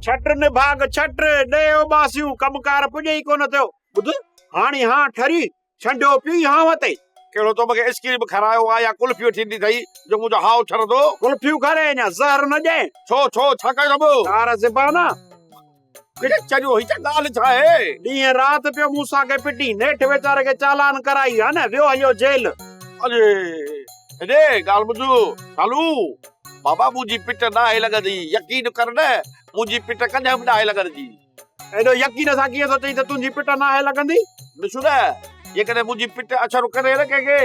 ڇٽ نڀاڳ ڇٽ، ڏهي اوٻاسيون، ڪم ڪار پڄي ئي ڪونه ٿيو. ٻڌ، هاڻي هان ٺري، ڇنڊيو پيو ئي هانء تي. ڪهڙو تو مونکي اسڪريم به کارايو آ يا ڪلفيون ٿيندي اٿئي جو منهنجو هانء ٺرندو. ڪلفيون کاريائين يا زهر نه ڏيائين. ڇو ڇو ڇا ڪيو اٿم؟ ڪار زبان آ. ڪري ڇڏيو هي ته ڳالهه ڇا آهي. ڏينهن رات پيو مون سان کي پٽي نيٺ ويچاري کي چالان ڪرائي ها نه ويو هليو جيل. اڙي هيڏي ڳالهه ٻڌ شالو بابا منهنجي پٽ ناهي لڳندي يقين ڪر نه منهنجي پٽ ڪڏهن به ناهي لڳندي. ايڏو يقين سان ڪيئن ٿو چئين ته تنهنجي پٽ ناهي لڳندي. نه ڇو نه جيڪڏهن منهنجي پٽ اڇر ڪري نه ڪنهن کي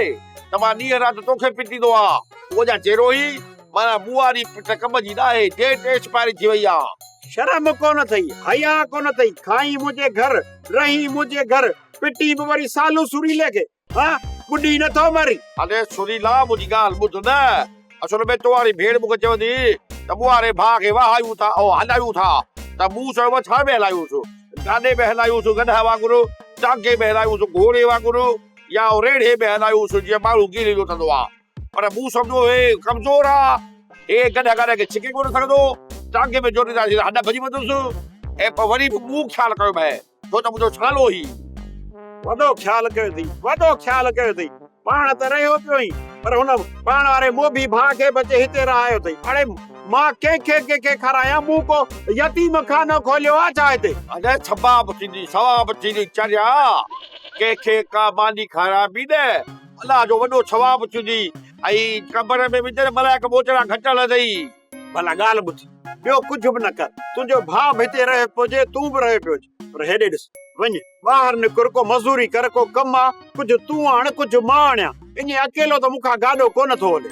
ته مان ڏينهن رات توکي پٽيندو ها. تون اڃا چيرو هين معنيٰ مون واري پٽ ڪم جي ناهي ڊيٽ ايڪسپائري ٿي وئي آهي. شرم ڪونه اٿئي، حياء ڪونه اٿئي، کائين منهنجي گهر، رهين منهنجي گهر، پٽين به وري سالو سريلي کي، ها ٻڏي نٿو مرين. اڙي سريلا منهنجي ڳالهه ٻڌ نه، اصل ۾ توهاري ڀيڻ مونکي چوندي هئي ته ٻوهاري ڀاء کي وهايون ٿا ۽ هلايون ٿا ته مون چيو ڇا ۾ هلايونس، گاڏي ۾ هلايونس گڏهه وانگر، ٽانڪي ۾ هلايونس گهوڙي وانگر يا ريڙهي ۾ هلايونس جيئن ماڻهو ڪيري لوٽندو آهي. پر مون سمجهيو هي ڪمزور آ، هي گڏهه گڏهه کي ڇڪي ڪونه سگهندو، ٽانگي ۾ جوٽيندي آهيس هڏ ڀڄي ويندس ۽ پوء وري به مون خيال ڪيو مهي ڇو ته منهنجو ڇالو هي. وڏو خيال ڪيو اٿئي، وڏو خيال ڪيو اٿئي، پاڻ ته رهيو پيو هين پر هن پاڻ واري موڀي ڀاء کي به اچي هتي رهايو اٿئي، اڙي مان ڪنهن کي ڪنهن کي کارايان، مون ڪو يتيم خانو کوليو آ ڇا هتي؟ اڙي ثواب ٿيندي، ثواب ٿيندي چريا، ڪنهن کي ڪا ماني کارائبي نه. الله جو وڏو ثواب ٿيندي ۽ قبر ۾ وجهندي ملائڪ ٻوچڙا گهٽڻ لڳندي. ڀلا ڳالهه ٻڌ، ٻيو ڪجهه به نه ڪر، تنهنجو ڀاء به هتي رهيو پيو هجي، تون به رهيو پيو هج، پر هيڏي ڏس، وڃ، ٻاهر نڪر، ڪو مزوري ڪر، ڪو ڪم آ، ڪجهه تون آڻ، ڪجهه مان آڻيان، ائين اڪيلو ته مون کان گاڏو ڪونه ٿو هلي.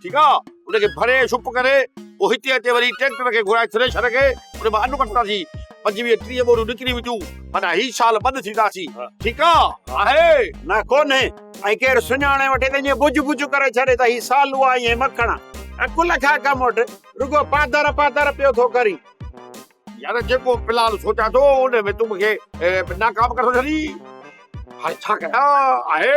ٺيڪ آ ان کي ڀري شپ ڪري پوء هتي اچي وري ٽريڪٽر کي گهرائي ٿريشر کي ان مان انو ڪڍنداسين پنجويهه ٽيهه ٻوريون نڪري وينديون معنيٰ هي سال ٻڏ ٿينداسين ٺيڪ آ آهي نه ڪونهي ۽ ڪير سڃاڻي وٺي ته ائين ٻج ٻج ڪري ڇڏي ته هي سالو آهين ۽ مکڻ آ عقل کان ڪم وٺ رڳو پاڌر پاڌر پيو ٿو ڪرين. يار جيڪو فلحال سوچان ٿو ان ۾ تون مون کي ناڪام ڪري ٿو ڇڏين هاڻي ڇا ڪيان آهي.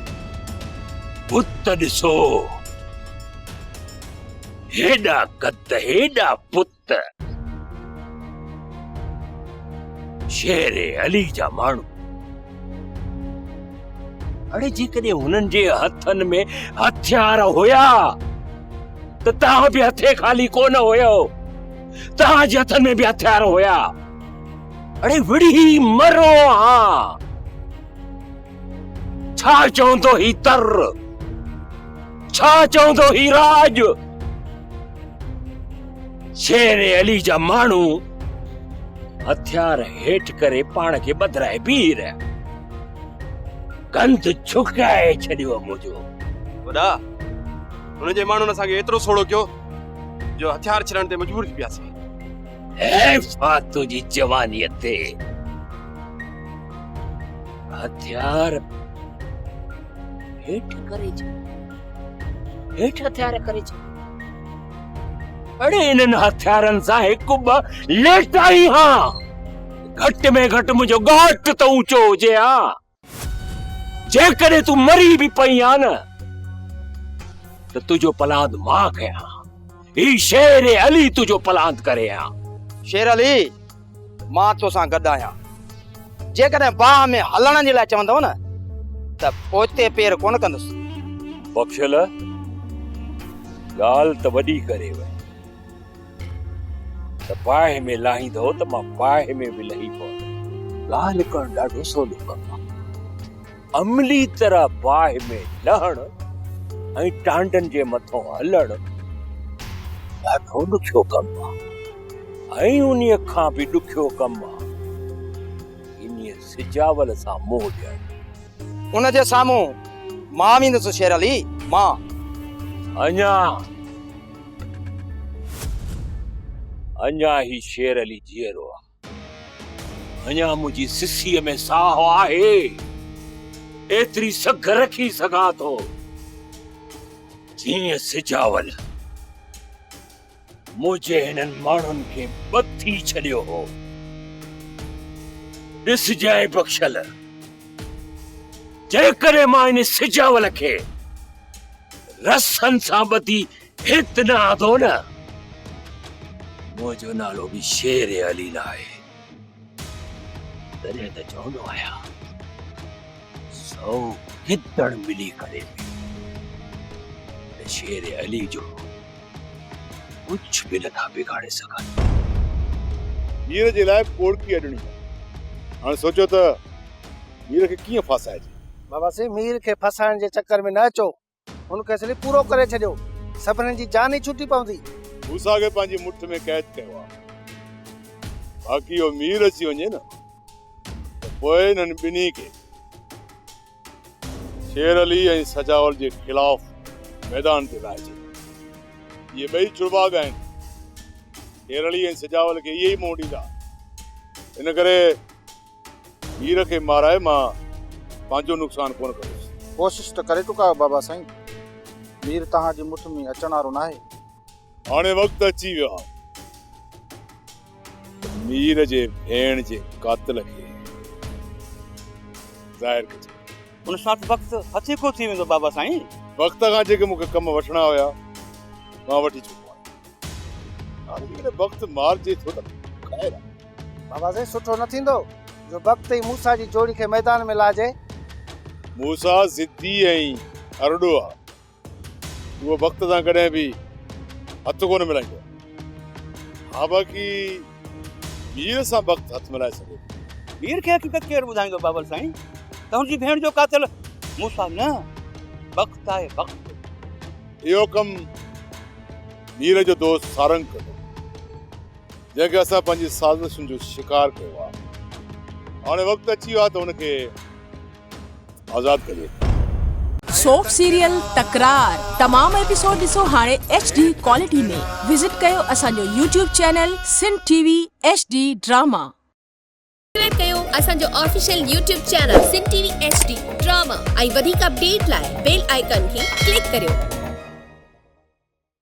پت ڏسو هيڏا قد هيڏا پت شير علي جا ماڻهو اڙي جيڪڏهن هنن جي هٿن ۾ هٿيار هيا ته توهان به هٿي خالي ڪونه هيو توهان جي هٿن ۾ به هٿيار هيا اڙي وڙهي مرو ها ڇا چوندو هي تر ڇا چوندو هي راڄ شير علي جا ماڻهو هٿيار هيٺ ڪري پاڻ کي بدرائي بيهي رهيا گند ڇڪائي ڇڏيو منهنجو وڏا هن جي ماڻهن اسان کي ايترو سوڙو ڪيو جو هٿيار ڇڏڻ تي مجبور ٿي پياسين هي فاتو جي جواني تي هٿيار هيٺ ڪري ڇڏيا هيٺ هٿيار ڪري ڇڏيا اڙي انهن هٿيارن سان هڪ ٻ ليٽائي ها گهٽ ۾ گهٽ منهنجو ڳاٽ ته اوچو هجي ها جيڪڏهن تون مري به پئي ها نه ته تنهنجو پلاند مان ڪيان هي شير علي تنهنجو پلاند ڪري ها شير علي مان تو سان گڏ آهيان. جيڪڏهن باهه ۾ هلڻ جي لاء چوندؤ نه ته پوئتي پير ڪونه ڪندس. بخشل ڳالهه ته وڏي ڪري وئي ته باهه ۾ لاهيندؤ ته مان باهه ۾ به لهي پوندس. ڳالهه ڪرڻ ڏاڍو سولو ڪم آهي. عملي طرح باهه ۾ لهڻ ۽ ٽانڊن جي مٿان هلڻ ڏاڍو ڏکيو ڪم آهي ۽ انهيء کان به ڏکيو ڪم آهي انهيء سجاول سان منهن ڏيڻ. ان جي سامهون مان ويندس شير علي، مان. اڃا اڃا هي شير علي جيئرو آهي. اڃا منهنجي سسيء ۾ ساهه آهي، ايتري سگهه رکي سگهان ٿو، جيئن سجاول منهنجي هنن ماڻهن کي ٻڌي ڇڏيو هو. ڏسجانء بخشل، جيڪڏهن مان ان سجاول کي رسن سان ٻڌي هت نه آندو نه. منهنجو نالو به شير علي نه آهي. تڏهن ته چوندو آهيان سو گدڙ ملي ڪري به شير علي جو ڪجهه به نٿا بگاڙي سگهن. هير جي لاء پوڙڪي اڏڻي آهي. هاڻي سوچيو ته هير کي ڪيئن ڦاسائجي. بابا سي مير کي ڦاسائڻ جي چڪر ۾ نه اچو. هن کيس لي پورو ڪري ڇڏيو. سڀني جي جان ئي ڇٽي پوندي. موسيٰ کي پنهنجي مٺ ۾ قيد ڪيو آهي. باقي اهو مير اچي وڃي نه ته پوء انهن ٻنهي کي شير علي ۽ سجاول جي خلاف ميدان تي لاهي ڇڏيو. اهي ٻئي چڙواڳ آهن. شير علي ۽ سجاول کي اهي ئي منهن ڏيندا. ان ڪري. مير کي مارائي مان پنهنجو نقصان ڪونه ڪندس. ڪوشش ته ڪري چڪا آهيو بابا سائين. مير توهان جي مٺ ۾ اچڻ وارو ناهي. هاڻي وقت اچي ويو آهي ته مير جي ڀيڻ جي قاتل کي ظاهر ڪجي. ان ساٿ وقت هٿي ڪو ٿي ويندو بابا سائين. وقت کان جيڪي مون کي ڪم وٺڻا هيا مان وٺي چڪو آهيان. آخر بخت مارجي ٿو ته خير آ. بابا سائين سٺو نه ٿيندو جو بخت ۽ موسيٰ جي جوڙي کي ميدان ۾ لاهجي. موسيٰ ضدي ۽ ارڏو آ. اهو بخت سان ڪڏهن به هٿ ڪونه ملائيندو آ. ها باقي مير سان بخت هٿ ملائي سگهي ٿو. مير کي حقيقت ڪير ٻڌائيندو بابل سائين ته هن جي ڀيڻ جو قاتل موسيٰ نه بخت آهي بخت. اهو ڪم مير جو دوست سارنگ ڪندو جنهن کي اسان پنهنجي سازشن جو شڪار ڪيو آهي هاڻي وقت اچي ويو آهي ته هن کي آزاد ڪجي. سوپ سيريل تڪرار تمام ايپيسوڊ ڏسو هاڻي ايڇ ڊي ڪوالٽي ۾ وزٽ ڪيو اسان جو YouTube channel Sindh T V H D drama. Subscribe ڪيو اسان جو official YouTube channel Sindh T V H D drama ۽ وڌيڪ اپڊيٽ لاء بيل آئيڪان کي ڪلڪ ڪريو.